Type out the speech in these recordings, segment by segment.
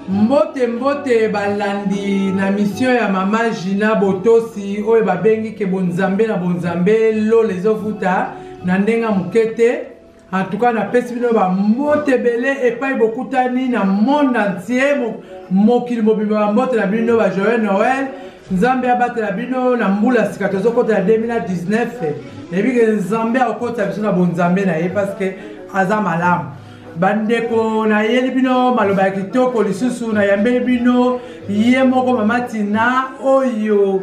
mbote mbote balandi na misio ya mama gina botosi oyo babengi ke bonzambe na bonzambe lola ezovuta na ndenge ya moke te En tout cas, napesi bino ba mbote ebele epai bokutani na monde entier mokili mobimba ba mbote na bino ba joyeux Noël. Nzambe abatela bino na mbula sika tozokota na 2019 nayebi ke Nzambe akokotisa biso na bonzambe na ye parce que aza malamu bandeko nayeli bino maloba ya kitoko lisusu nayambeli bino ye moko mama tina oyo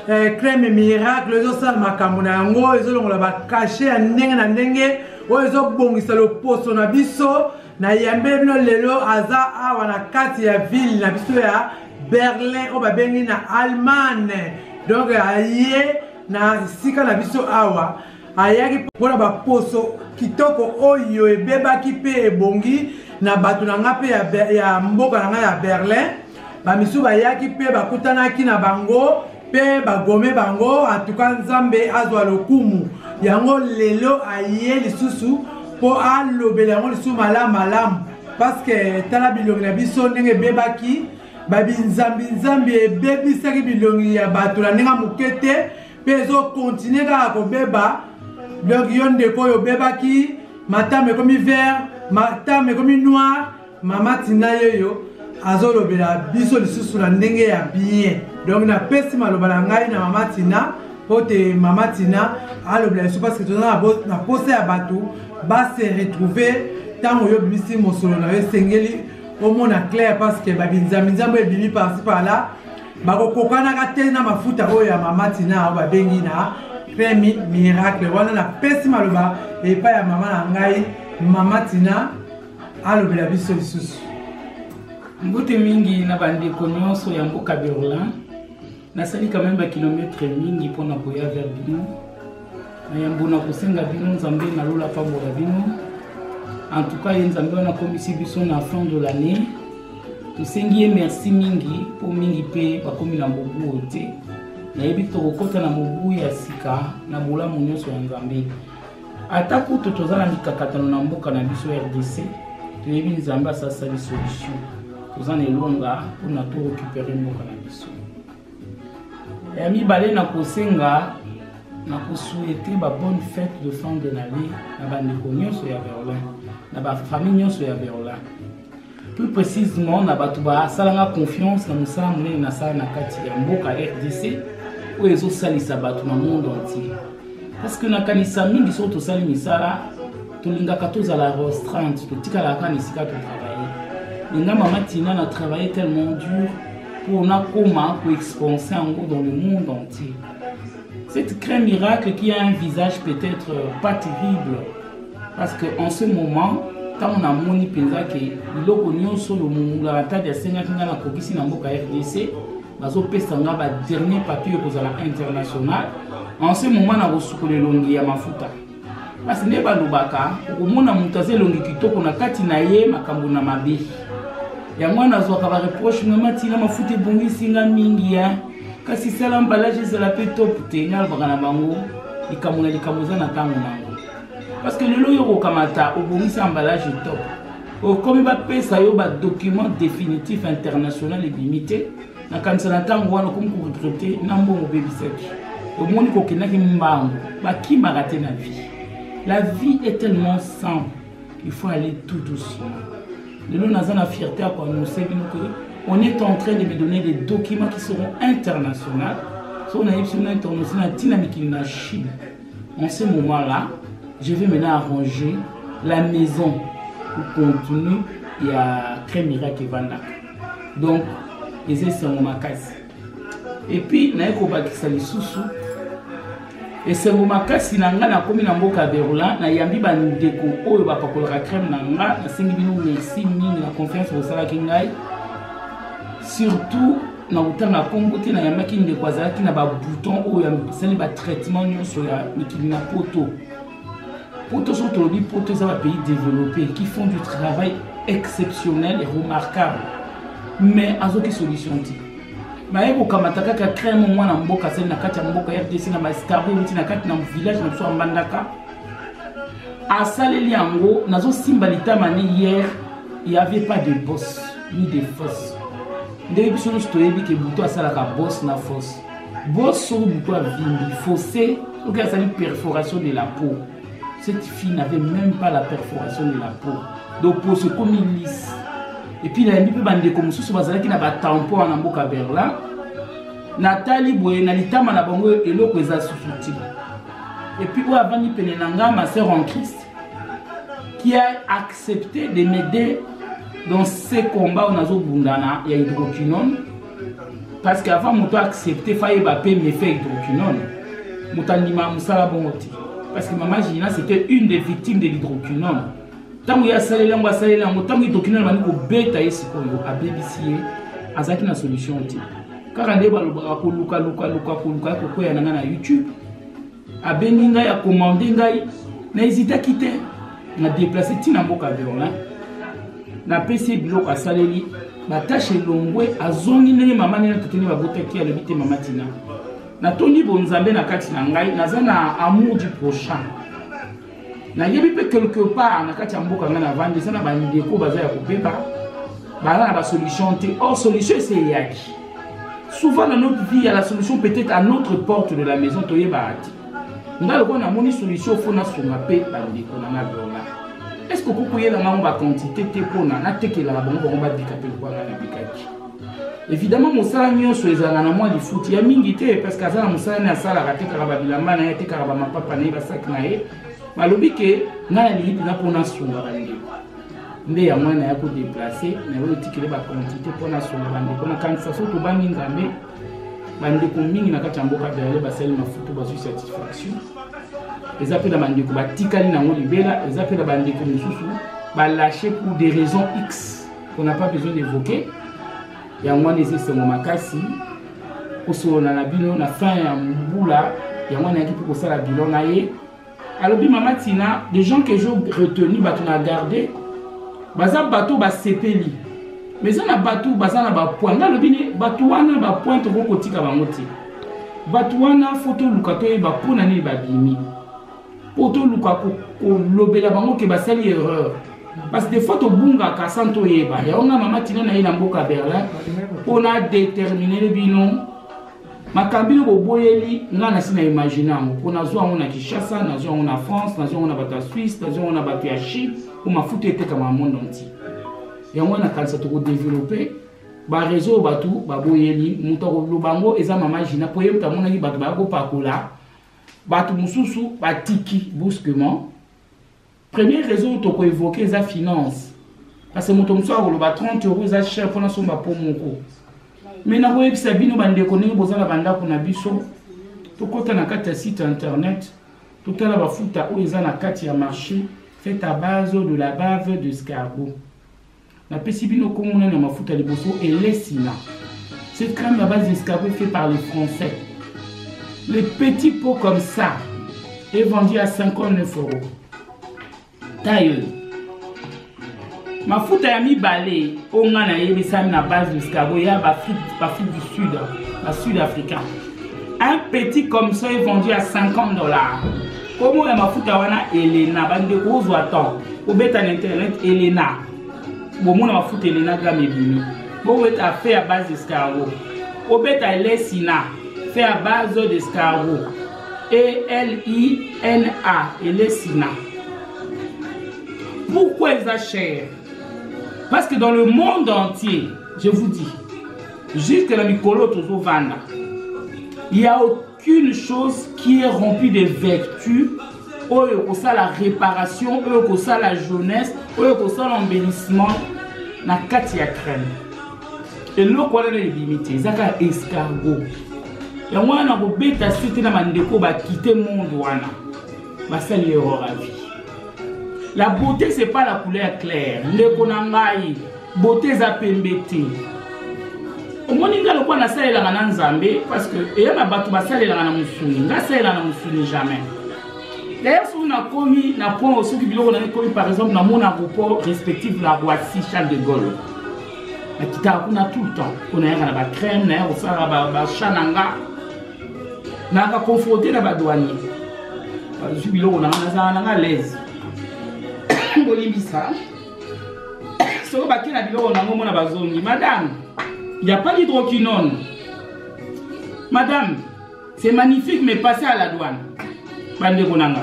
eh, crème miracle ezosala makambo na yango ezolongola bakashe ya ndenge na ndenge oyo ezobongisa loposo na biso na yambe bino lelo aza awa na kati ya ville na biso ya berlin oyo babengi na allemagne donc aye na esika na biso awa ayaki mpo na baposo kitoko oyo ebebaki mpe ebongi na bato na ngai mpe ya, ya mboka na ngai ya berlin bamisusu bayaki mpe bakutanaki na bango mpe bagome bango atuka nzambe azwa lokumu yango lelo aye lisusu mpo alobela yango lisusu malamu malamu parceke tala bilongi na biso ndenge ebebaki babinzambinzambi ebebisaki bilongi ya bato na ndenge moke te mpe ezokontinue kaka kobeba donc yo ndeko oyo obebaki matama ekomi vert matama ekomi noir mama tina yeyo azolobela biso lisusu na ndenge ya bien donc napesi maloba na ngai na mama tina mpo te mama tina alobela lisusu parce que toza na posa ya bato base retrouve ntango yo obimisi mosolo na yo esengeli omona claire parce que babinzambinzambo ebimi parci par là bakokokanaka te na mafuta oyo ya mama tina oyo babengi na cremi miracle wana napesi maloba epai ya mama na ngai mama tina alobela biso lisusu mbote mingi na bandeko nyonso ya mboka berlin nasali kameme bakilometre mingi mpo na koya ver bino yambo na kosenga bino nzambe na lola apambola bino en tout cas ye nzambe wana akomisi biso na fin de l'année tosengi ye merci mingi mpo mingi mpe bakomi na mobu oyo te nayebi tokokɔta na mobu ya sika na bolamu nyonso ya nzambe ata kutu toza na mikakatano na mboka na biso rdc toyebi nzambe asasali solution toza na elonga mpona torekupere mboka na biso ya mibale na kosenga na kosuete ba bonne fête de fin de l'année na bandeko nyonso ya berlin na bafamille nyonso ya berlin plus précisément na bato basalanga confiance na mosala monene nasala na kati ya mboka rdc oyo ezosalisa bato na monde entier parce que nakanisa mingi soki tosali misala tolingaka tozala restreinte totikalaka na esika totravaille linga mama tina na travaille tellement dur pour nakoma ko expanser yango dans le monde entier cette crème miracle qui a un visage peut-être euh, pas terrible parce que en ce moment ntango namoni mpenza ke biloko nyonso oyo mongulamatadi asengaki ngai nakokisi na mboka rdc bazopesa ngai badernier papier oyo kozala international en ce moment nakosukola elongi ya mafuta basi nde balobaka okomona moto aza elongi kitoko na kati na ye makambo na mabe yango wana azwaka bareproche mama ntina mafuta ebongisi nga mingi ya kasi sala mbalage ezala mpe top te nga alobaka na bango likambo na likambo eza na ntango na yango parce que lelo oyo okokamata obongisi ambalage top okomi bapesa yo badocument définitif international ebimi te nakanisa na ntango wana okomi koregrete na mbongo obebisaki omoni kokendaki mbango bakimaka te na vie la vie est tellement simple il faut aller tout doucement lelo naza na fierté ya koannonce bino que on est en train de me donner des documents qui seront internationaux soki nayebisi bino internation na ntina mikili na chine en ce moment là je vais maintenant arranger la maison pour continuer ya crème miracle evandaka donc eza esengo makasi epuis naye kobakisa lisusu esengo makasi na ngai nakomi na mboka berlin nayambi bandeko oyo bapakolaka crème na ngai nasengi bino merci mingi na confiance bosalaki ngai surtout na kotanga nkombo te nayambaki ndeko azalaki na babouton oyo asali batraitement nyonso ya mikili na poto poto soki tolobi poto eza bapays développé qui font du travail exceptionnel et remarquable mais azoki solution te baye kokamata kaka crème mwana mboka azali na kati ya mboka rdc na baescargo euti na kati na village na biso ya mbandaka asaleli yango nazosimba litama ne hier y avait pas de boss ni de fosse ndenge biso nyonso toyebi ke butu asalaka boss na fosse bosolo moto avimbi fosse soki azali perforation de la peau cette fille n'avait même pas la perforation de la peau donc poso ekomi lise epuis nayambi mpe bandeko mosusu bazalaki na batempo wana mboka berlin natali boye na litama na bango eloko eza susu te epuis oyo avandi pene na ngai ma sœur en christ qui a accepté de m'aider dans ce combat oyo nazobundana ya hydroquinone parce que avant moto accepte fa yeba pe mefe hydroquinone moto andimaka mosala bongo te parce que mama gina c'était une des victimes de l'hydroquinone ntango ye asaleli yango asaleli yango ntango hydroquinone bandi kobeta ye sikoyo abebisi ye azalaki na solution te kaka nde balobaka kolukalukaluka koluka kokweya na ngai na youtube abengi ngai akomande ngai na ezitaki te na deplace ntina na mboka berlin napesi ye biloko asaleli batashe elongwe azongi ndenge mama nene tete nde babotaki ye alobi te mama tina natondi bonzambe na kati na ngai naza na amour du prochain nayebi mpe quelque part na kati ya mboka ngai navandi eza na bandeko baza ya kobeba baza na basolution te or solution esi eyaki souvent na notre vie ya la solution peut-être à notre porte de la maison toyebaka te ngai lokola namoni solution fo nasunga mpe bandeko na ngai vraimen est ce que okoki koyela ngango baquantité te mpona natekelaka bango bango babika mpe lokola ngai nabikaki Evidemment mosala nyonso ezalaka na mwa lifuti ya mingi te parce que aza na mosala naye asalaka atekaka babilamba na ye atekaka bamapapa na ye basaki na ye balobi ke ngai nalingi mpenza mpo nasunga bandeko nde ya mwana ya kodeplace na oyo etikele baquantité mpo nasunga bandeko nakanisa so tobangi nzambe bandeko mingi na kati ya mboka berle basali mafutu bazwi satisfaction eza mpe na bandeko batikali nango libela eza mpe na bandeko mosusu balashe pour des raisons x qu'on n'a pas besoin d'évoquer yango wana eza esengo makasi kosolola na bino na fin ya mbula yango wana yaki mpe kosala bilan na ye alobi mama tina de gens que je retenu bato na garde baza bato basepeli mais eza na bato baza na bapoint nga alobi ni bato wana bapoint tokoki kotika bango te bato wana fo toluka toyeba mpo na nini babimi mpo toluka kolobela bango ke basali erreur parce des fois tobungaka sans toyeba yango nga mama tina na ye na mboka berlin mpo na determinele bino makambo bino boboyeli nga nasi na imagine yango mpo nazwa yango na kinshasa nazwa yango na france nazwa yango na bato ya swisse nazwa yango na bato ya chine mpo mafuta etekama na monde entier yango wana nakanisa tokodevelope barezo oyo bato baboyeli moto akoloba yango eza mama jina mpo ye moto amonaki bato baya kopakola bato mosusu batiki brusquement première raison toko évoquer eza finance parce que moto mosusu akoloba 30 euro eza cher mpo nasomba po moko me nakoyebisa bino bandeko ndenge boza na bandako na biso tokɔta na kati ya site internet totala bafuta oyo eza na kati ya marché fait à base de la bave d'escargot napesi bino kombo nani ya mafuta liboso elesina cette crème à base d'escargot fait par les français les petits pots comme ça est vendu à 59 euros taille mafuta ya mibale oyo ngai nayebisami na base d'escargot ya bafrique du sud basud africain un petit comme ça est vendu à 50 dollars komo ya mafuta wana elena bandeko ozwa temps obeta na internet elena bomona mafuta elena game ebimi bobeta fe ya base escargo obeta elesina fe ya base d'escargo elina elesina pourquoi eza cher parce que dans le monde entier je vous dis jusque na mikolo tozovanda ya qu'une chose qui est remplie de vertu oyo kosala réparation oyo kosala jeunesse oyo kosala embellissement na kati ya crème eloko wana na ebimi te eza kaka escargo yango wana nakobeta site na bandeko bakite monde wana basali erreur ya vie la beauté c'est pas la couleur claire ndeko na ngai bote eza pembe te omoni ngai lokola nasalelaka na nzambe parce que eya na bato basalelaka na mosuni ngai asalela na mosuni jamais d'ailleurs soki nakomi na point soki biloko na ekomi par exemple na mon aéroport respective na roissy charles de gaulle nakitaka kuna tout le temps mpo nayaka na bacrème naya kosala bachat na nga nayaka confronte na badouanier bazwi biloko na nga nazala na nga alaise bolimbisa soko bake na biloko nango mona bazongi madame ya pas d'hydroquinone madame c'est magnifique mais passe à la douane bandeko na nga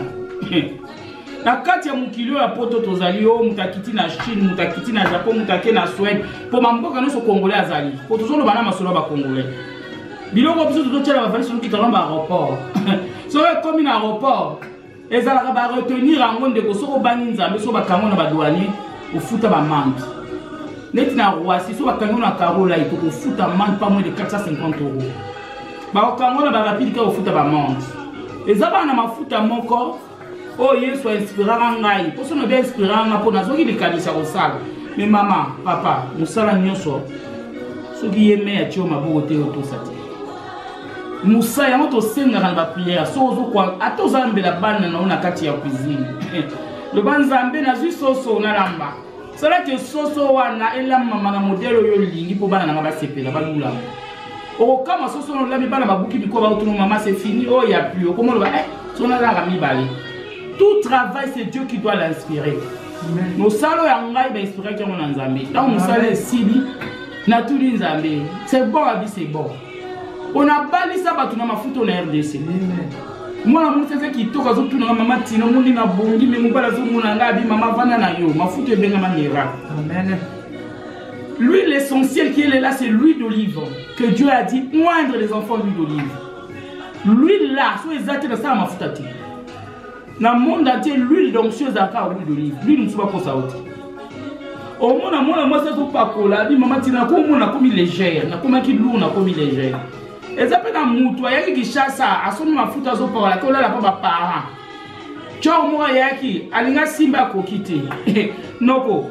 na kati ya mokili oyo ya poto tozali yo moto akiti na chine moto akiti na japon moto ake na swede mpo bamboka nyonso congolais azali mpo tozoloba na masolo ya bacongolais biloko biso tozotyela bavalisi soki talamba aéroport soki ekomi na aéroport ezalaka ba retenir yango ndeko soki obangi nzambe soki bakango na badouanier ofuta bamande neti na roisi soki bakango na carolai tokofuta mande pa moins de 450 euro bakokango na barapide kaka ofuta bamande eza bana mafuta moko oyo oh, yesu ainspiraka ngai mposo na bia inspiraka ngai mpo nazwaki likanisi ya kosala me mama papa mosala nyonso soki ye me atio maboko te otosa te mosala yango tosengaka na bapriere soki ozokwa ata oza mbela bana na yo na kati ya cuisine loba nzambe nazwi soso nalamba salaki soso wana elamama na modele oyo olingi mpo bana nanga basepela balulama okokama soso wana olami bana babuki biko bautuna mama se fini oyo oh, ya pli okoma oloba e so nazalaka mibale tout travail c'est dieu qui doit l'inspirer mosala oyo ya ngai bainspiraki yango na nzambe ntango mosala esili natuni nzambe c'est bon abi c'est bon onabalisa bato na mafuta na rdc mwana mwasi aza kitoko azotunaka mama tina omoni na bongi me mobali azomona ngai abi mama vanda na yo mafuta ebengama miracle lui l'essentiel qui est là c'est l'huile d'olive que dieu a dit moindre les enfants l'huile d'olive l'huile là so eza te nasala mafuta te na monde atie l'huile d'onction ezalaka huile d'olive l'huile mosusu bakosa yo te omona mwana mwasi azopakola abi mama ntina nakomona nakomi légère nakomaki lour nakomi légère eza mpe na motu ayaki kishasa asombi mafuta azopakola ke olala mpo baparent cor moko ayaki alinga simba akoki te noko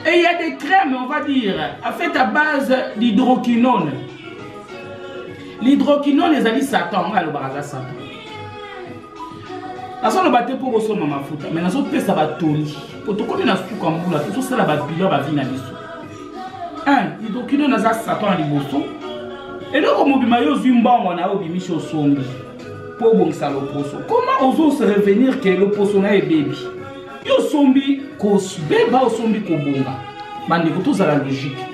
et il y a des crèmes on va dire a fait à base d'hydroquinone l'hydroquinone ezali satan ngai alobaka aza satan nazoloba te mpo bosomba mafuta mai nazopesa batoli mpo tokomi na suka mbula tozosala babilo ya bavi na biso un idokino naza satan na liboso eloko mobima yo ozwi mbongo na yo obimisi osombi mpo obongisa loposo koma ozose revenir ke loposo na ebebi yo osombi kobeba osombi kobonga bandeko tozala logike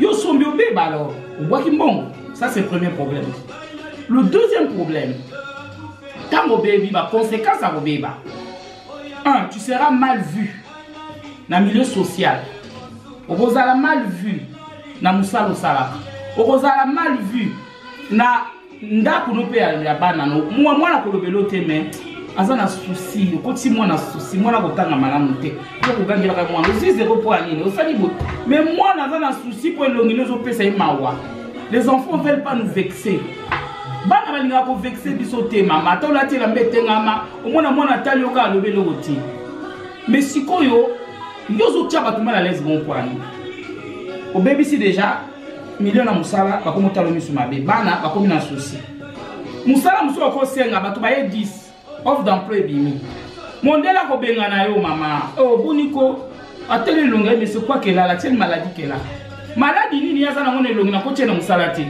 yo osombi obeba alors obwaki mbongo ça c'est premier problème le deuxième problème ntango obebi ba conséquence ya kobeba un tu seras mal vu na milieu social okozala mal vu na mosala osalaka okozala mal vu na ndako no mpe ya bana no mwana kolobela te me aza na susi okoti mwana susi mwana kotanga malamu te yo kogangelaka mwana ozwi zero mpo ya nini osali boye me mwana aza na susi mpo elongi no ezopesa ye mawa les enfants veulent pas nous vexer bana balingaka kovexe biso te mama ata olati elamba etengama omona mwana atali yo kaka alobi eloko te me sikoyo yo ozotya bato mal alaise bon kwani obebisi deja milio na mosala bakomi otalo miso mabe bana bakomi na susi mosala mosusu bakosenga bato baye 10 Offre d'emploi ebimi. Mondela ko benga na yo mama. Oh boni ko ateli longa mais c'est quoi qu'elle a la tienne maladie qu'elle a. Maladie nini yaza na ngone longa na ko tiena musala te.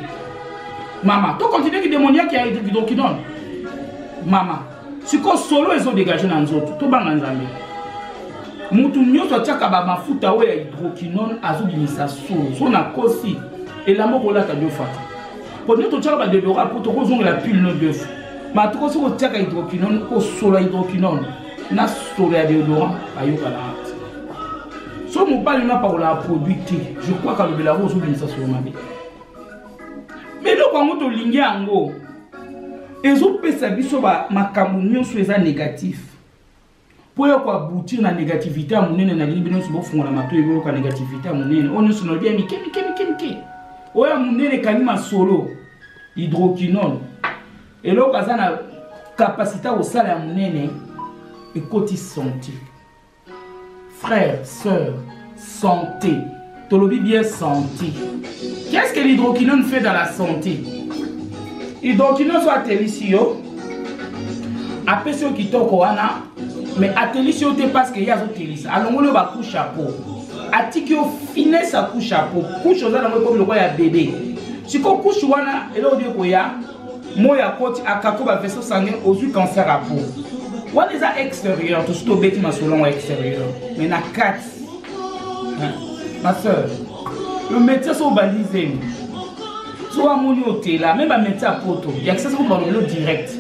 Mama, to continue ki demoniaque ya kidokidon. Mama, siko solo ezo dégage na nzoto to banga nzambe motu nyonso atiaka bamafuta oyo ya hydroquinone azobimisa solo so na kosi elamba okolata diofata mpo nde totyaka badedora mpo tokozongela pile no diofu matuko soki otiaka hydroquinone osola hydroquinone na solo ya deodorant ayokana te so mobali no apakolaka produit te je crois kalobela yango ozobimisa solo mabe me eloko yango tolingi yango ezopesa biso makambo nyonso eza négatif mpo ya koaboutir na négativité ya monene nalingi bino nyonso bofungola matoi boyoka négativité ya monene oyo nyonso nalobi ya mike mike mike mike oyo ya monene ekangi masolo hydroquinone eloko aza na kapasité ya kosala ya monene ekoti santi Frère, sœur, santé. Tolobi bien santé. Qu'est-ce que l'hydroquinone fait dans la santé Hydroquinone soit atelisi yo, apesi yo kitoko wana, mais atelisi yo te parce que ye azotelisa. Alongoli yo ba couche à peau. Atiki yo finesse à couche à peau. Couche oza nango ekomi lokola ya bébé. Siko couche wana eloko nde ekoya moi akoti akako ba vaisseau sanguin ozwi cancer ya po wana eza extérieur tosi tobeti masolo yango extérieur mais na kati ma soeur le métier so obalizemi so amoni otela me bamétier ya poto yakisa soko balobelo direct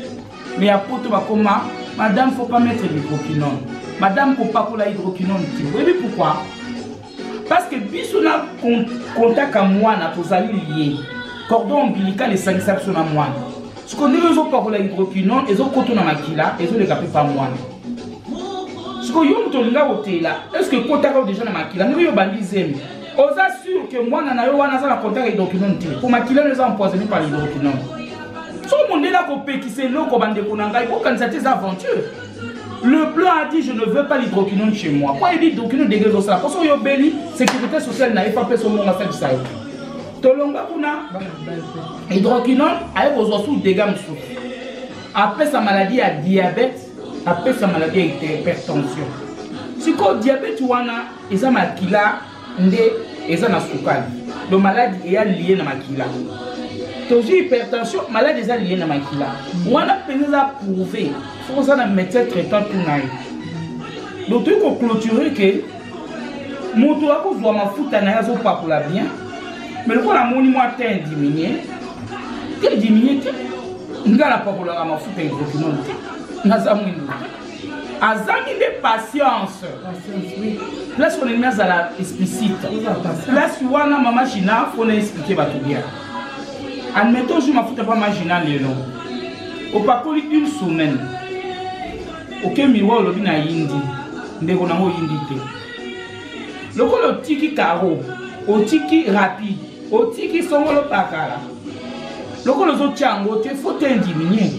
mais ya poto bakoma madame faut pas mettre hydroquinone madame kopakola hydroquinone te oyebi pourquoi parce que biso na contact ya mwana tozali lie cordon ombilical esangisa biso na mwana siko ndenge ezopakola hydroquinone ezokoto na makila ezoleka mpe pa mwana siko yo moto olinga kotela estce ekotaka deja na makila ndenge yo obandi zemi oza sur ke mwana na yo wana aza na contact ya hydroquinone te mpo makila no eza empoisonne par hydroquinone soki mondele akopekisa eloko bandeko na ngai kokanisa te eza aventure Le blanc a dit je ne veux pas l'hydroquinone chez moi. Pourquoi il dit hydroquinone degré de ça Parce que yo beli sécurité sociale na FAP son monde ça ça. Tolonga kuna hydroquinone aye kozwa sous dégâts mosusu. Apesa maladie ya diabète, apesa maladie ya hypertension. Sikoyo diabète wana eza makila nde eza na sukali do maladi eya lie na makila tozwi hypertension maladi eza lie na makila wana mpenza eza prouve fo oza na médecin traitant tu na ye do toyi koclôture ke moto akozwa mafuta na ye azopakola bien mais lokola amoni mwa te diminue te diminue te nga napakolaka mafuta ya hydroquinone te naza mwindu te azangi nde patience place wana elimi azala explicite place wana mama gina fona explike bato bien admettons jour mafuta pa ma gina lelo opakoli une semaine oke miwa olobi na yindi ndeko nango oyindi te lokola otiki caro otiki rapide otiki songolo pakala lokola ozotya yango te fo te indiminue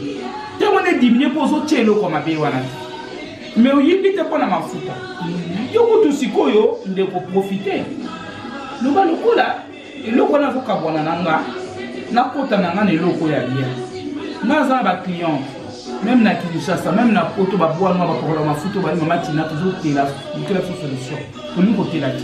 te wana indiminue mpo ozotya eloko mabe wana te me oyimbi te mpo na mafuta yo kutu sikoyo ndeko profite loba lokola eloko wana azokabwana na nga nakota na nga na eloko ya bien nga aza na baclient meme na kinshasa meme na poto babwanwa bapokola mafuta obali mama tina tozotela totela biso solution tolingi kotela te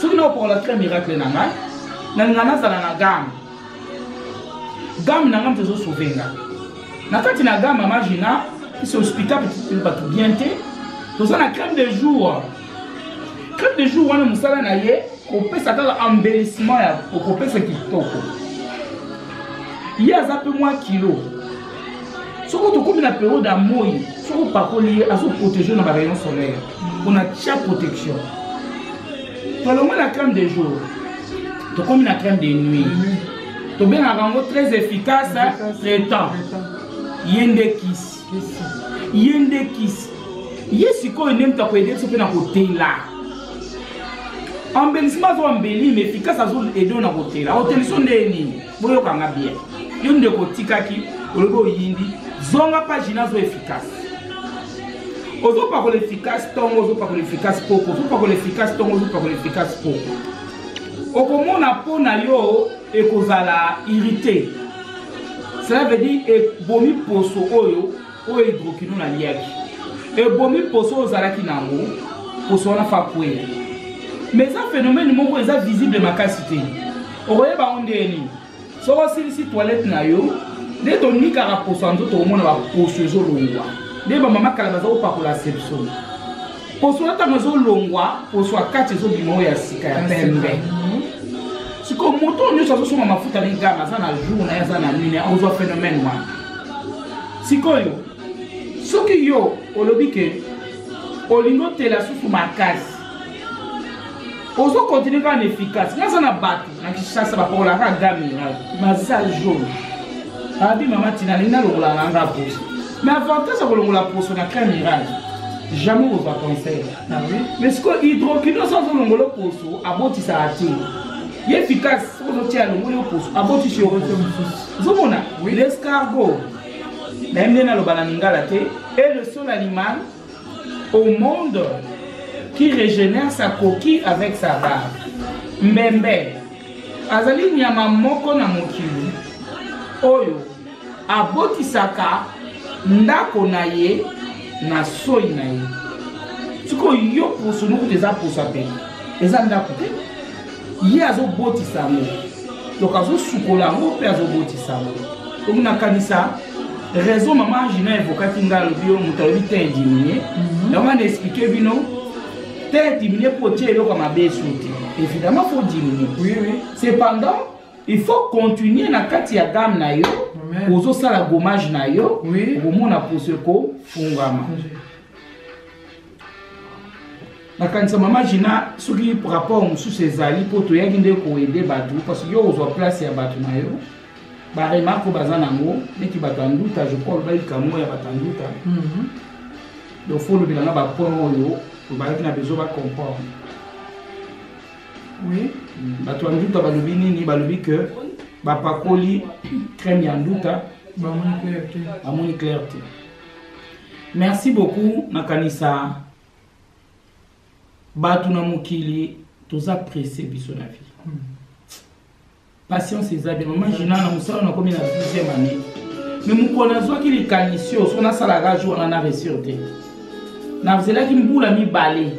soki naopokola tre miracle na ngai nalinga nazala na game game na ngai moto ezosauve nga na kati na game mama gina ese hospital bato bien te toza na crème de jour crème de jour wana mosala na ye kopesa kaka embellissement ya kopesa kitoko ye aza mpe mwa kilo soki tokomi na periode ya moi soki opakoli ye azoprotege na barayon solaire pona tia protection tolongwe na crème de jour tokomi na crème de nuit tobengaka yango très efficace traitant ye nde kisi ye nde kisi ye sikoyo nde moto akoyede biso mpe na kotela embellisement azo embelli mais efficace azo edo na kotela oteliso nde nini boyoka nga bien yo ndeko otikaki olobi oyindi zonga page nazo efficace ozopakola efficace ntongo ozopakola efficace poko ozopakola efficace ntongo ozopakola efficace poko okomona mpo na yo ekozala irrite cela veut dire ebomi poso oyo oyo hidrokino naliaki ebomi poso oyo ozalaki na yango poso wana fakwea ma eza phénomène moko eza visible makasi te okoyeba yango ndenge nini soki osilisi toilette na yo nde tonikaka poso ya nzoto omona baposo ezolongwa nde bamama kala baza kopakola sepso poso wana ntango ezolongwa poso ya kati ezobima oyo ya sika ya pembe sikoyo moto oyo nyonso azosomba mafuta na igama aza na jour na ye aza na nini akozwa phénomène wana sikoyo soki yo olobi ke olingi otela susu makasi ozo continue kaka na efficace naza na bato na kishasa bapakolaka gamiral baza jaune babi mama tina alingi nalongola nanga poso mais avantage ya kolongola poso na crème mirage jamais kozwa conseil ah mais sikoyo hydrokino so azolongola poso abotisaka te ye efficace soki ozotia alongoli yo poso abotisi yo ozomona oui. l'escargo nayebi nde naloba na lingala te et le seul animal au monde qui régénère sa coquille avec sa barbe mbembe azali nyama moko na mokili oyo abotisaka ndako na ye na soi na ye sikoyo yo poso nokuta eza poso ape eza ndako te ye azobotisa yango donc azosukola yango mpe azobotisa yango donc nakanisa raison mama angina evokaki ngai alobi yo moto alobi te diminue mhm. yango ana explike bino te diminue mpo otie eloko ya mabe esu te évidemment faut diminue cependant il faut continuer na kati ya game na yo ozosala gommage na yo okomona poso ekofungama nakanisa mama gina soki rapport mosusu ezali mpo toyaki nde koede bato parce yo ozwa place ya bato na yo baremarke oyo baza nango neti bato ya nduta je crois olobaki likambo ya bato ya nduta mhm. donc fo olobela nga bapoint oyo obalaki na besoin bacomprendre oui mm, bato ya nduta balobi nini balobi ke bapakoli crème ya nduta bamoni clair te merci beaucoup nakanisa bato na mokili toza presse biso na vie hmm. patience eza bien mama jina na mosala nakomi na 12e année me mokolo nazwaki likanisi oyo so nasalaka jour wana na resur te nazelaki mbula mibale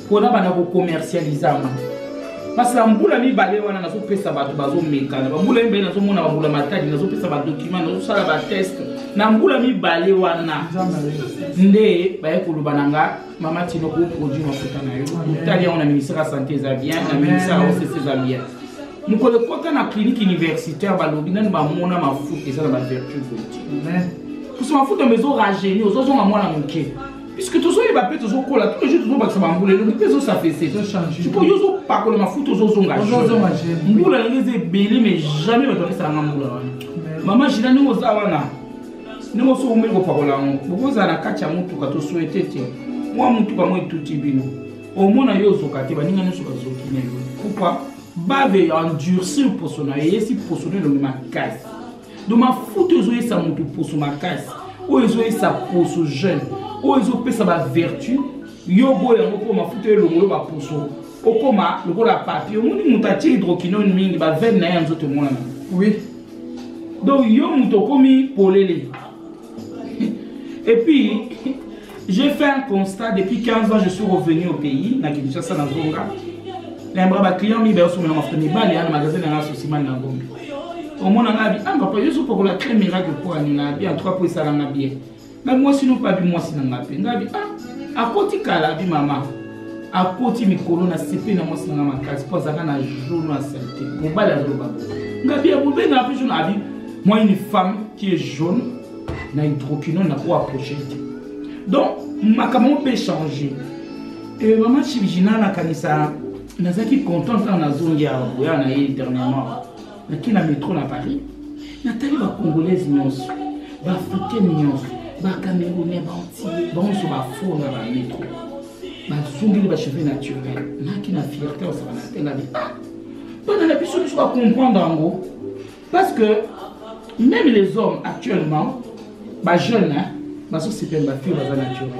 kona banda kokomercialize yango parce na mbula mibale wana nazopesa bato bazomekana bambula mibale nazomona bambula matadi nazopesa badocument nazosala bateste na mbula mibale wana nde baye koloba na nga mama tino koproduit mafuta na yo otali yango na ministère ya santé eza bien na ministère ya osese eza bien mokolo ekota na clinique universitaire balobi nani bamona mafuta eza na bavertu politi kusa mafuta ma ezorajeuni ozozonga mwana moke puisque tozoyeba mpe tozokola tous les jours tozobakisa bambula elongi mpe ezosafese sikoyo yo ozopakola mafuta ozozonga mbula yango eza ebele mais jamais bato bakisaka nga mbula wana mama jina ndenge oza wana ndenge oso omeli kopakola yango bokozala na kati ya motuka tosuete te mwa motuka yango etuti bino omona yo ozoka te baninga nyonso bazoki na yo pourkoi bave endurcir poso na yo eyesi poso na elongi makasi donc mafuta ezoyesa moto poso makasi oyo ezoyesa poso jeune oyo ezopesa bavertu yo oboya yango mpo mafuta elongolo baposo okoma lokola papier omoni moto atie hydroquinone mingi bavene na ye ya nzoto emonana oui donc yo moto okomi polele Et puis, j'ai fait un constat depuis 15 ans, je suis revenu au pays, na Kinshasa, na Zonga. Na mbra ba client mi ba sumela mafuta ni bali na magasin na souci man na ngombe. Au moins na bi amba pa yesu pour la crème miracle pour ani na bi en trois pour ça na bien. Mais moi sinon pas bi moi sinon na pe. Na bi ah akoti kala bi mama. Akoti mikolo na sepe na moi sinon na makasi pour ça na jour na saleté. Mobali aloba. Ngabi ya bobe na pe jour na bi Moi, une femme qui est jaune, na hydroquinone, na quoi approcher. Donc, ma maman peut changer. Et maman Chibijina, na kanisa, na zaki content quand na zongi à Boya, na yé dernièrement. Na qui na métro na Paris. Na tali ba congolaise nyonso, ba africaine nyonso, ba camerounais, ba antillais, ba onso ba faux na ba métro. Ba zongi ba cheveux naturels. Na qui na fierté, on s'en a tela de ah. Bana na biso biso ba comprendre en gros. Parce que même les hommes actuellement, ba jeunes, hein, ba so c'est ba fille ba naturel.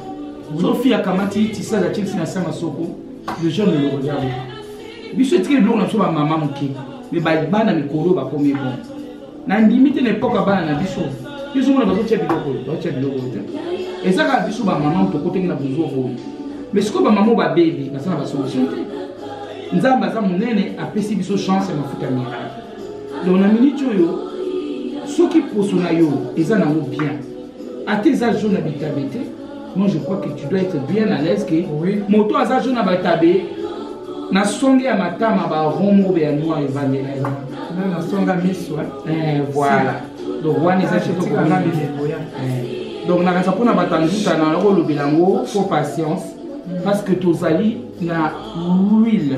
So fille akamati tisa la chelsea na sama soko, les jeunes le regardent. Biso tikeli biloko na biso ba mama moke, mais ba bana mikolo ba komi bon. Na ndimi te na epoque bana na biso, biso mona bazo tia biloko, bazo tia biloko te. Eza kaka biso ba mama tokotenge na bozo boye. Mais sikoyo ba mama ba baby, basala ba solution te. Nzambe aza monene apesi biso chance ya mafuta miracle. donc na miniti oyo soki poso na yo eza nango bien ata eza jo na bitabe te moi je crois que tu dois être bien à l'aise que oui. moto aza jo na batabe na songe ya matama baromo be ya noir evandela ye na songa miso eh, voilà donc wana eza donc nakanisa mpona bato ya nzuta na yango olobela yango fo patience mm. parce que tozali na wile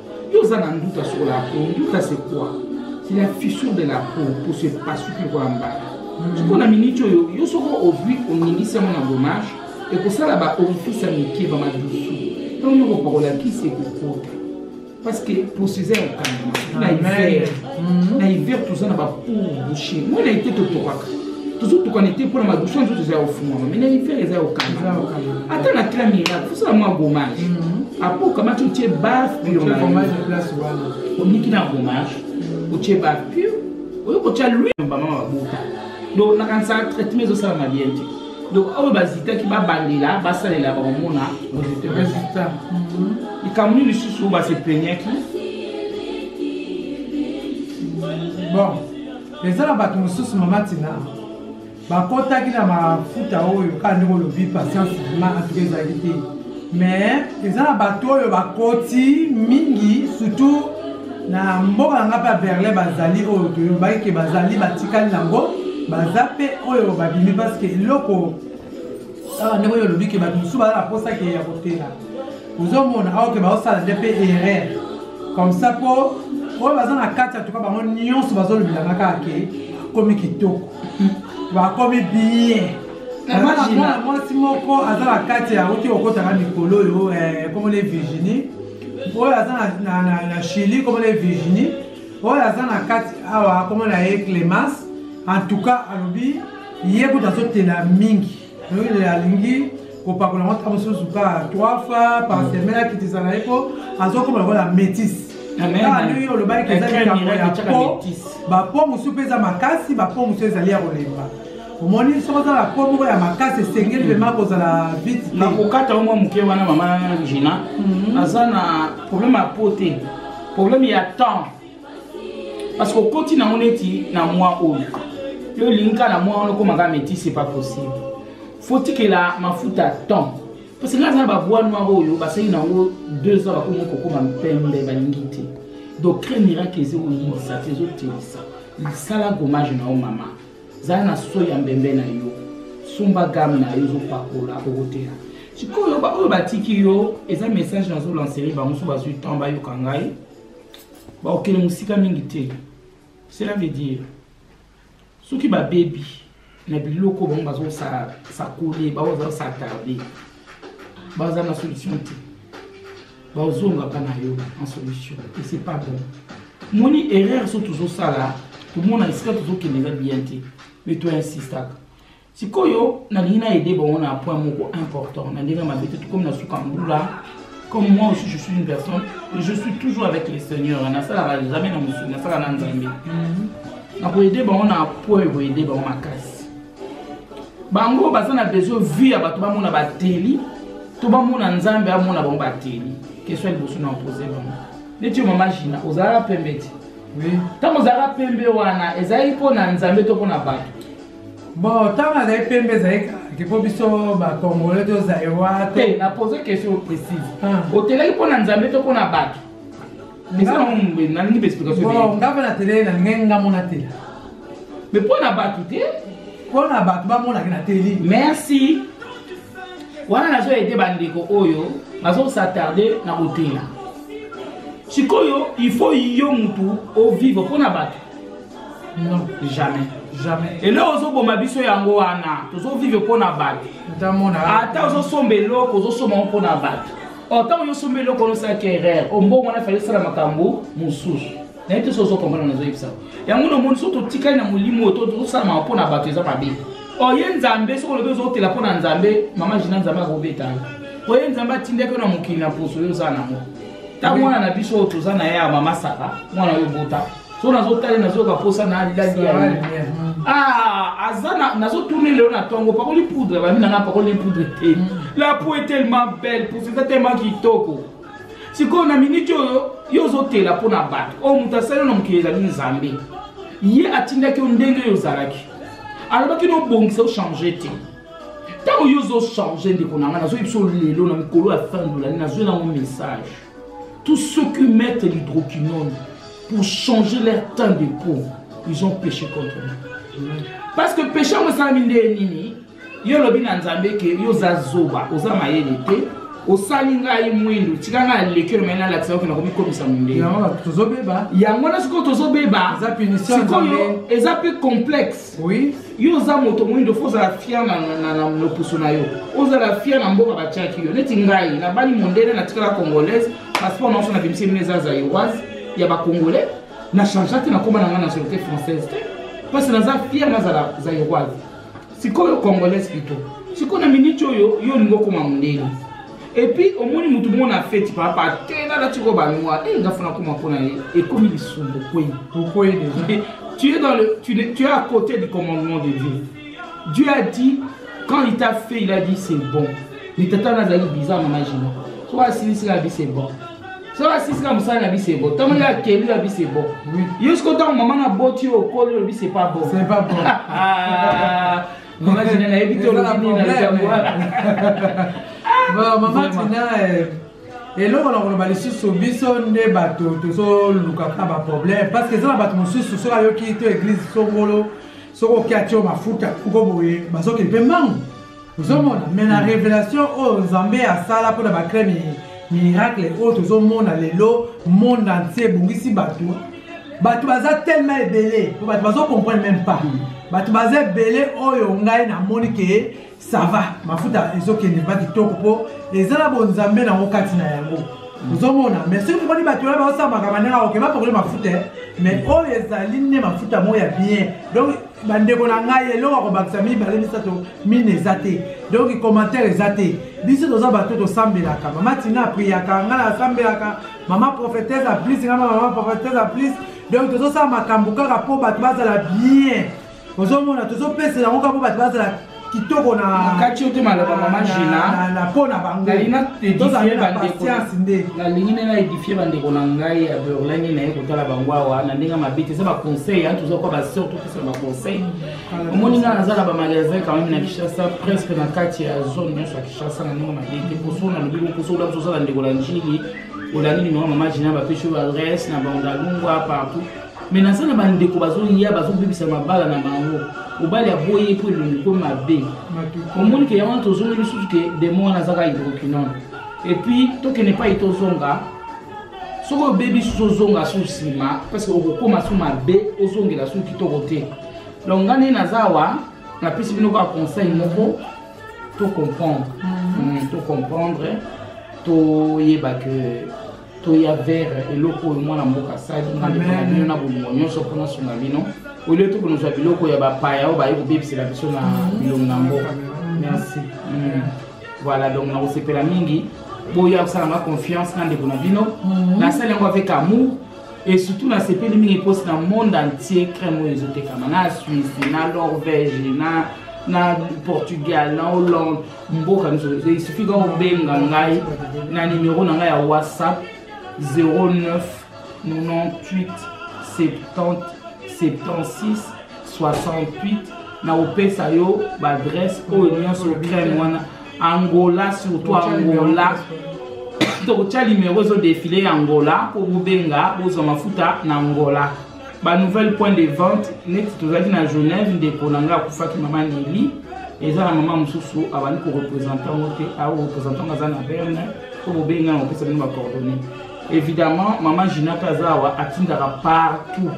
Yo oza na nduta sur la peau, nduta c'est quoi? C'est la fissure de la peau pour se pasuki kwa mbala. Siko na minute oyo yo soko ovui oningisi yango na gommage ekosala ba orifice ya mike ba madusu ntango yo kopakola kisi ekokota parce que procésa ya kokanga na hiver na hiver toza na bapour bouche moi na ete totokaka tozotukana te mpo na madusu nzoto eza ya ofungwama mai na hiver eza ya okanga ata na cla miracle fosala mwa gommage mhm. apo okamati otie bar pure oniki na gommage mhm. otie bar pure oyo kotya lwi bamama babota donc nakanisaka traitement ezosalama bien te donc oyo bazitaki babandela basalela bakomona résultat mhm. likambo nini lisusu oyo basepenyaki bon eza na bato mosusu mama tina bakotaki na mafuta oyo kaka ndenge olobi patience ma antuka ezalaki te mais eza na bato oyo bakoti mingi surtout na mboka na ngai mpe ya berlin bazali oyo toyobaki ke bazali batikali nango baza mpe oyo babimi parceke eloko awa ndenge oyo olobi ke bato mosusu baza na mposa ke ya kotela ozomona awa ke baosala nde mpe erreur comme ça mpo oyo baza na kati ya tuka bango nyonso bazolobelanga kaka ke komi kitoko bakomi bien mwana mwasi moko aza na kati ya auti kokotaka mikolo oyo eh, komona virginie oyo aza na chili komona virginie oyo aza na kati awa komona ye clemence en tout cas alobi ye kutu azotela mingi noile alingi kopakola yango ntango mosusu kaka trois fois par mm. semaine akitisa na ye mpo azokoma lokola métise ndenge yo olobaki eza likambo ya po bapo mosusu mpe eza makasi bapo mosusu ezali ya kolemba omoni soki oza na po moko ya makasi esengeli vrema hmm. kozala vite na kokata yo mwa moke wana mama jina hmm. aza na problème ya po te problème ya temps parce que okoti nango neti na mwa oyo yo olingi kaka na mwa wana okomaka métis c'est pas possible faut tikela mafuta temps parce que nga aza na babois noir oyo basali nango deux ans bakomi kokoma mpembe balingi te donc cré miracle ezokoyingisa te ezotelisa lisala gommage na yo mama zala na soi ya mbembe na yo sumba game na yo ezopakola okotela sikoyo baoyo batiki yo eza message nazolanseri bango so bazwi temps bayoka ngai bakokende mosika mingi te cela veut dire soki babebi na biloko bango bazosakole bango bazosatarde baza na solution te bazongaka na yo en solution et c'est pas bon moni erreur so tozosala tomona esika tozokende eza bien te mais toinsistaka sikoyo nalingi na aide bango na point moko important na ndenge mabe te tokomi na suka mbula comme moi aussi je suis une personne je suis toujours avec le seigneur nasalaka jamais na mosuni nasalaka na nzambe mhm. nakoyede bango na point ekoyede bango makasi bango baza na besoin vie ya bato bamona bateli to bamona nzambe amona bango bateli question liboso na opose bango neti yo mama jina ozalaka pembe te ntango ozalaka pembe wana ezalaki mpo na nzambe to mpo na bato bon ntango azali pembe ezali kake mpo biso bacongolais to zaïrois te na pose question précise ah. otelaki mpo na nzambe to mpo na bato nalingi baexplication nga mpe nateleli nalingai nga mona tela mais mpo na bato te mpo na bato bamonaki na teli merci wana nazo aide bandeko oyo bazosattarde na kotela sikoyo il faut yo mutu ovivre mpo na bato non jamais jamais eloko ozoboma biso yango wana tozovivre mpo na bato ata ozosomba eloko ozosomba yango mpo na bato otango yosomba eloko onosalaki erreur ombongo wana efali osala makambo mosusu naye te so ozokomprana nazoyebisa yango na omoni so totikali na molimo oyo tosalama mpo na bato eza mabe oye oh, nzambe soki olobi ozotela mpo na nzambe mama jina nzambe akobeta yo oye oh, nzambe atindaki yo na mokili na poso oyo oza nango ntango mwana na biso oyo toza na ye ya mama sara mwana oyo obota so nazotali nazoyoka mposa na alilaki ya ah, aza nazotuni lelo na ntongo pakoli poudre bami nanga pakoli poudre te mm. la po est tellement belle posa eza tellement kitoko sikoyo na miniti oyo yo ozotela mpo na bato oyo moto asali na mokili ezali nzambe ye atindaki yo ndenge oyo ozalaki alobaki nobongisa ochange te ntango yo ozochange ndeko na ngai nazoyebisa lelo na mikolo ya fin dolani nazwi nango message Tous ceux qui mettent l'hydroquinone pour changer leur teint de peau, ils ont péché contre nous. Parce que péché yango esalami nde nini yo olobi na nzambe ke yo oza zoba oza mayele te osali ngai mwindu tika ngai aleki oyo mai nalakisa yoke nakomikomisa mondele yango na sikoyo tozobeba sikoyo eza mpe complexe oui yo oza moto moyindo fo ozala fier na, na, na, na loposo na yo ozala fier na mboka batiaki yo neti ngai nabali mondele natikala congolaise passeport naoso na bimisi mine eza zaïroise ya bacongolais na changea te nakoma na ngai nationalité française te mpasi naza fier nazala zaïroise sikoyo congolaise pito sikoyo na miniti oyo yo olingi okoma mondele epuis omoni motu moko na feti papa te nalati ko banoir e eh, nga fana koma mpo na ye ekomi lisumbu kwei okwei deja tu es dans le tu, tu es à côté du commandement de dieu dieu a dit quand il t'a fait il a dit c'est bon mais tata wana azali bizarre mama jina so asilisika abi c'est bon so asilisika mosala na bi c'est bon ntango ye akeli abi c'est bon yo siko ntango mama na boti yo okoli olobi c'est pas bon c'est pas bon ah. Maman Tina na yebi to lobi nini na likambo wana. Bon, maman Tina eh, eloko na koloba lisusu biso nde bato tozolukaka baproblème parce que eza na bato mosusu soki ayoki to église songolo soki okia tio mafuta kuko boye bazokende mpe mbangu ozomona mais na révélation oyo nzambe asala mpo na bacrème miracle oyo tozomona lelo monde entier ebongisi bato bato baza tellement ebele po bato bazo comprendre même pas bato baza ebele oyo ngai namoni ke sava mafuta ezokende mpa kitoko mpo eza na bonzambe nango kati na yango ozomona mais soki omoni bato wana baosala makambo ndenge akoke bapakoli mafuta mais oyo ezali nde mafuta moko ya bien donc bandeko na ngai eloko akobakisa mibale misato mine eza te donc commentaire eza te biso toza bato tosambelaka mama tina apriyaka ngai nasambelaka mama prophetese a plus nga mama prophetese a plus donc tozosala makambo kaka mpo bato bazala bien ozomona tozopesa yango kaka mpo bato bazala kitoko nakati yo te maloba mama gina mpo na bangotozaapatience nde nalingi nde na edifie bandeko na ngai ya berlin naye kotala bango awa na ndenge mabe te eza baconseil toza kwa baseur topesa baconseil omoni ngai naza na bamagasin quand même na kinshasa presque na kati ya zone nyonso ya kinshasa na ndenge mabe te poso nalobi boposo ola bisosa na ndeko na njili olandi nimero mama jina bapesi oyo adresse na bandalungwa partout me naza na bandeko bazoya bazobebisa mabala na bango mobali aboyi mpo elongi ekomi mabe omoni ke yango wana tozongi lisusu ke demo wana azaka hydroquinone epuis tokende epai tozonga soki obebi susu ozonga su nsima parce okokoma su mabe ozongela su kitoko te donc nga nde naza awa napesi bino kaka conseil moko to comprendre mhm. mm, to comprendre toyeba ke toya vere eloko oyo mwana mboka asali nga nde pona bino na bolingo nyonso mpo nasunga bino olio to konozwa biloko ya bapaya oyo baye kobebisela biso na mhm. bilongo na mboka mhm. merci mm. voilà donc nakosepela mingi boya kosalanga confiance na ndeko na bino nasali yango avec amour et surtout nasepeli mingi mposi na monde entier crème oyo ezotekama na suisse na norvège na na portugal na hollande mboka nyonso esufi kaka obenga ngai na nimero na ngai ya whatsapp 09 98 70 76 68 nakopesa yo baadresse oyo nyonso crème wana angola surtout angola tokotya limero ezo defile ya angola mpo bobenga bozwa mafuta na angola banouvelle point de vente neti tozalaki na genève ndeko na ngai akufaki mama neli eza na mama mosusu abandi korepresente yango te aorepresente yango aza na berne mpo bobenga na kopesa bino bacoordonne évidemment mama gina mpe aza awa atindaka partout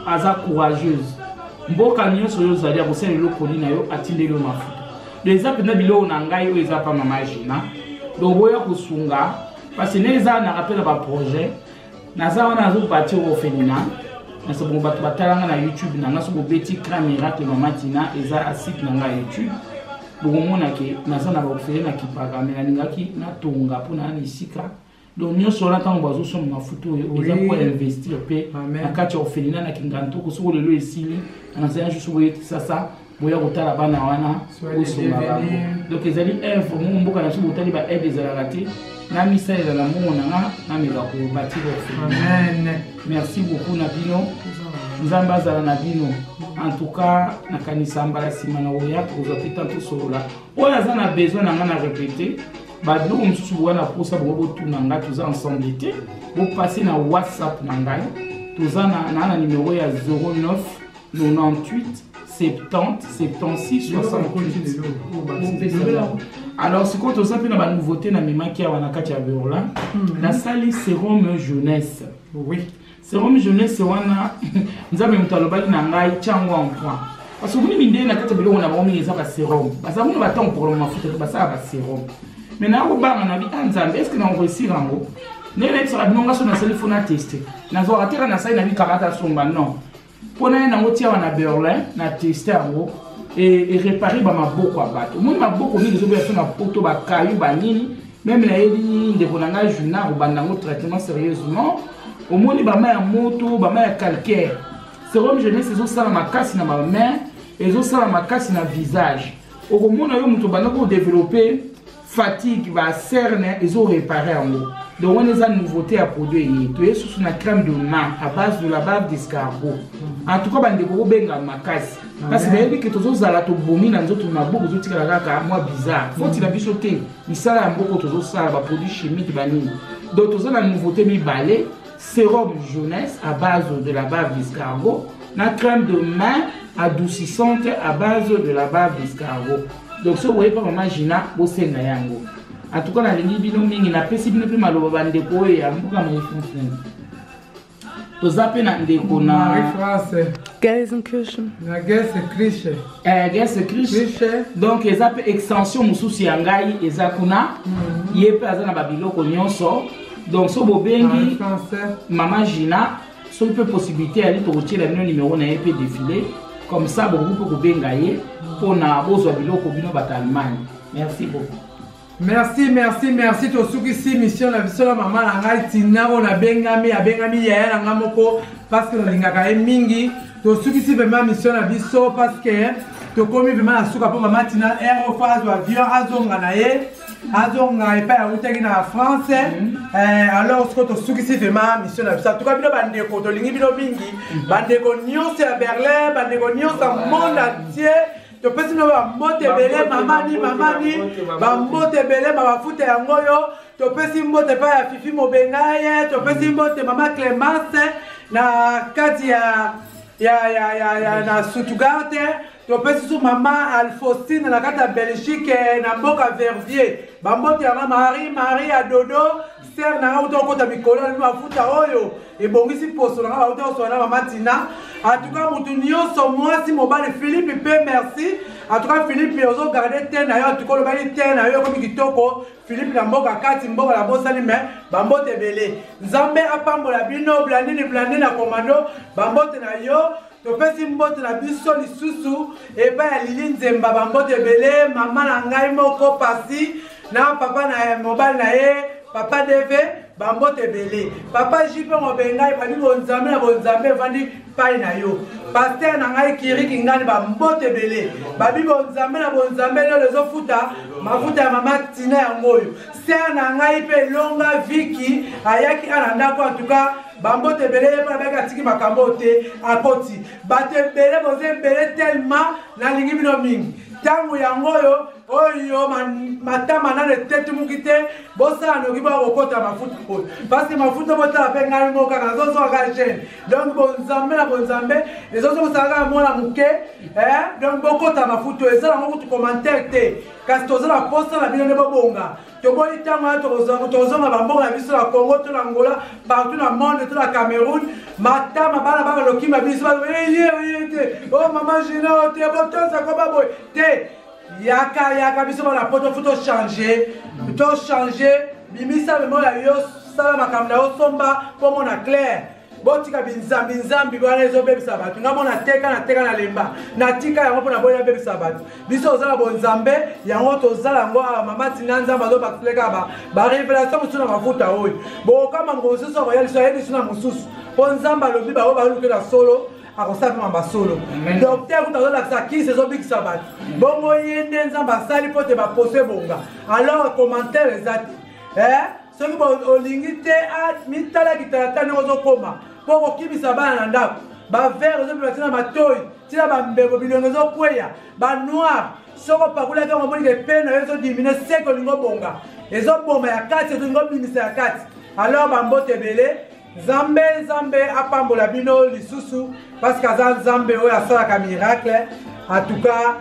aza courageuse mboka nyonso oyo ozali akosala eloko nini na yo atindeli yo mafuta do eza mpenza biloko na ngai oyo eza mpa mama jina do boya kosunga parce nde eza na rappel ya baprojet naza wana nazobati orphelina nasabongo bato batalanga na youtube na nga soki obeti cra miracle mama tina eza asite na ngai youtube bokomona ke naza na baofele na kipaka me nalingaki natonga mpo na na esika donc nyonso wana ntango bazosomba mafuta oyo eza po investir mpe na kati ya ofelina na kingantoko soko lelo esili anasanya juste boyekisa sa boya kotala bana wana bosomba bango donc ezali œuvre moko mboka na biso botali ba aide ezalaka te na misalela na mbongo na nga nameka kobatira ofelina merci beaucoup na bino nzambe azala na bino en tout cas nakanisa mbala nsima na oya tokozwa mpe ntan tosolola oyo aza na besoin na ngai na repete babiloko mosusu boya na posa bongo botuna ngai toza ensemble te bopase na whatsapp na ngai toza na na numero ya 09 98 70 76 68 alors sikoyo toza mpe na banouveauté na memaki awa na kati ya berlin hmm. nasali serum jeunesse oui. serum jeunesse wana nzambe moto alobaki na ngai tyango en point parce omoni mindele na kati ya biloko na bango mingi eza baserum baza kuna batango problème mafuta te basala baserum mai naa kobanga na bi a ah, nzambe estce na okoesir yango ndenge nayebisaka bino nga so nasali fona teste nazwaka teka nasali na bikamata somba non mpo naye nango tiawa na berlin na teste yango erepare bamaboko ya bato omoni maboko mingi ezobeya so na poto bakayu banini meme nayebi ndeko na ngai juna kobanda yango traitement sérieusement omoni bama ya moto bama ya calcaire serum jeunesse ezosala makasi na bamain ezosala makasi na visage okomona yo moto obanda kodeveloppe fatigue ba cerne ezo repare yango donc wana eza nouveauté ya produit eye toye susu na crème de ma à base de la bave d'escargot en tout cas bandeko kobenga makasi kasi bayebi ke tozozala tobomi na nzoto mabuku ezotikala kaka mwa bizarre foti na biso te misala ya mboko tozosala baproduit chimique banini donc toza na nouveauté mibale sérum jeunesse à base de la bave d'escargot na crème de main adoucissante à base de la bave d'escargot donc soki oyebi mpa mama gina bosenga yango antuka nalingi bino mingi napesi bino mpe maloba bandeko oyo ya mboka mai france toza mpe na ndeko na france na gese crishe eh, gese crishe donc eza mpe extension mosusu ya ngai eza kuna mhm. ye mpe aza na babiloko nyonso donc so bobengi mama gina soki mpe possibilité yali tokotyela bino nimero na ye mpe défilé comme ça bokoki mpe kobenga ye mpo na bozwa biloko bino bato allemagne merci beaucoup merci merci merci tosukisi mission na biso na mama na ngai tina oyo nabengami abengami yaya na ngai moko parce que nalingaka ye mingi tosukisi vraimen mission na biso parce que tokomi vraimen na suka mpo mama tina r ofa azwa avion azonga na ye azonga epai awutaki na france mhm. eh, alors siko tosukisi vraimen mission na biso atuka bino bandeko tolingi bino mingi mhm. bandeko nyonso ya berlin bandeko nyonso ya monde entier topesi bino bambote ebele mamani mamani bambote ebele mabafuta yango oyo topesi mbote epai ya fifi mobengaye topesi mhm. mbote mama clemence na kati ya ya ya ya ya na sutugarte topesi su mama alfaustine na kati ya belgique na mboka vervier bambote yanga marie marie ya dodo ser na nga uta okota mikolo na mafuta oyo ebongisi poso na nga bauta koswana na mama tina atuka motu nyonso mwasi mobali philippe mpe merci atuka philippe ozogarde te na yo atuka olobaki te na yo ekomi kitoko philippe na mboka kati mboka na bosani me bambote ebele nzambe apambola bino blandini blandini na komando bambote na yo topesi mbote na biso lisusu epai ya lili nzemba bambote ebele mama na ngai moko pasi na papa na mobali na ye papa deve bambote ebele papa jipe mobe ngai babi bonzambe na bonzambe evandi pai na yo paster na ngai kiriki ngani bambote ebele babi bonzambe na bonzambe lelo ezofuta mafuta ya mama tina yango oyo ser na ngai mpe longa viki ayaki ana ndako antuka bambote ebele ye mpo nabaki atiki makambo oyo te akoti bato ebele boza ebele telema nalingi bino mingi ntango yango oyo oyo matama nano etetumuki te bosala noki boya kokota mafuta oyo parceke mafuta botala mpe ngai moko kaka nazozwa kaka gene donc bonzambe na bonzambe ezozokosala kaka mwana moke eh, donc bokota mafuta oyo eza nango kutu commentaire te kasi toza na posa na bino nde bobonga toboyi ntango wana tokozonga bamboka na biso na congo to na angola partout na monde to na cameroun matama bana bana lokima biso eye oye te o oh, mama gina o oh, te botosa ko baboye te yaka yaka biso bana poto fo tochange tochange bimisa memo ya yo sala makambo na yo somba mpo mona claire botika binzambi nzambi wana ezobebisa bato nga mona teka na teka na lemba natika yango mpo na boyi nabebisa bato biso oza na bonzambe yango tozala yango awa mama tina nzambe azobateleka barevelation mosusu na mafuta oyo bokama moko mosusu akoya liso ayebi liso na mosusu mpo nzambe alobi bango balukela solo akosala mama basolo docteur kuta azolakisa kisi ezobikisa bato bongo ye nde nzambe asali mpo te baposo ebonga alors commentaire eza te eh? soki olingi te ah, mitala kitalata ndenge ozokoma mpo okokimisa bana na ndako bavere ozopema tina matoi tina bambebo bilongo ezokweya banoir soko opakolaki yango omoni kepene na yo ezodimine seke olingi obonga ezoboma ya kati ezolingi obimisa ya kati alors bambote ebele nzambe nzambe apambola bino lisusu parceke aza nzambe oyo asalaka miracle en tout cas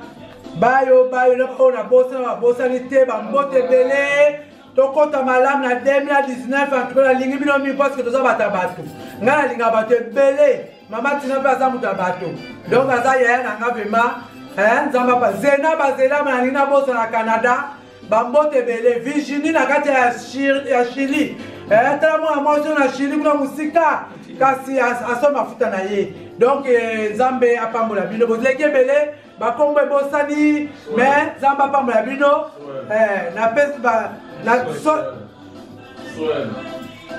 bayo bayo na baoyo nabosana babosani te bambote ebele tokota malamu na 2019 antuka nalingi bino mingi parceke toza bato ya bato ngai nalinga bato ebele mama tina mpe aza moto ya bato donc aza yaya na nga vrema eh, nzambe apa zena bazelama nalingi nabosa na canada bambote ebele virginie na kati ya chili eh, tala mwana mwasi na chili kuna mosika kasi asomba mafuta na ye donc eh, nzambe apambola bino bozileki ebele bakombo ebosani me nzambe apambola bino eh, napesi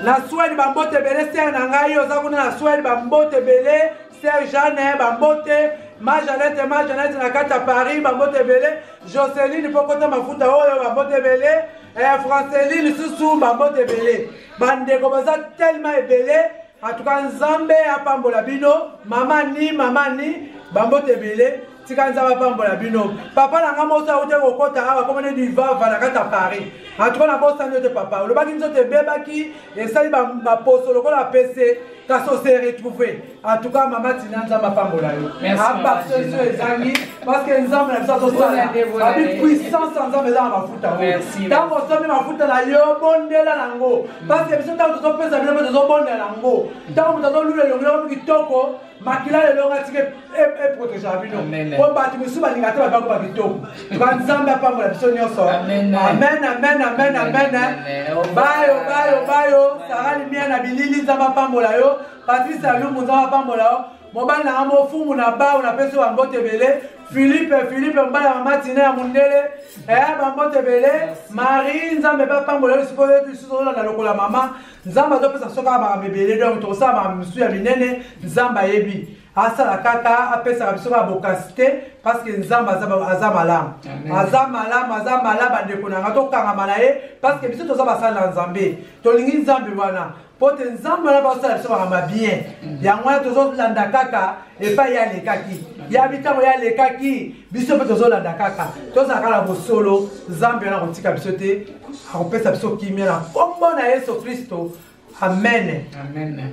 na swede bambote ebele sere na ngai oza kuna na swede bambote ebele sere jeanne bambote ma janete ma janete na kati ya paris bambote ebele joceline mpo kota mafuta oyo bambote ebele eh, franceline susu bambote ebele bandeko baza telema ebele atuka nzambe apambola bino mama ni mama ni bambote ebele tika nzambe apambola bino papa na ngai mosi auti kokota awa komone divava na kati ya paris atuka na bosani yo te papa olobaki nzoto ebebaki esali baposo lokola apese kasi ose retrouve atuka mama tina nzambe apambola yo abarsesio ezangi parce que nzambe na biso azosala babi puissance ya nzambe eza na mafuta oyo ntango osombi mafuta na yo bondela nango parce que biso ntango tozopesa bino mpe tozobondela nango ntango moto azolula elongi loko mi kitoko makila lelo nga tike eprotegea bino po bato mosusu balinga te babango ba bitoko tuka nzambe apambola biso nyonso amen amen amen amen bayo bayo bayo sara limia na bilili nzambe apambola yo patrice alumbu nzambe apambola yo mobali nanga mofumu na bao napesi bambote ebele filipe filipe mobali ya mama tina ya mondele eh, bambote ebele marie nzambe bapambola yo sikoyo yetu lisusu ozolanda lokola mama nzambe azopesa soki kaka makambo ebele donc tokosala makambo mosusu ya minene nzambe ayebi asala kaka apesaka biso kaka bokasi te parceke nzambe aza malamu aza malamu aza malamu bandeko na nga tokangama na ye parceke biso toza basali na nzambe tolingi nzambe wana mpo te nzambe wana baosala biso makambo ya bien yango wana tozolanda kaka epai ye alekaki ya mitango ye alekaki biso mpe tozolanda kaka tozalaka na bosolo nzambe wana akotika biso te akopesa biso kimia na nkombo na yesu kristo amen, amen.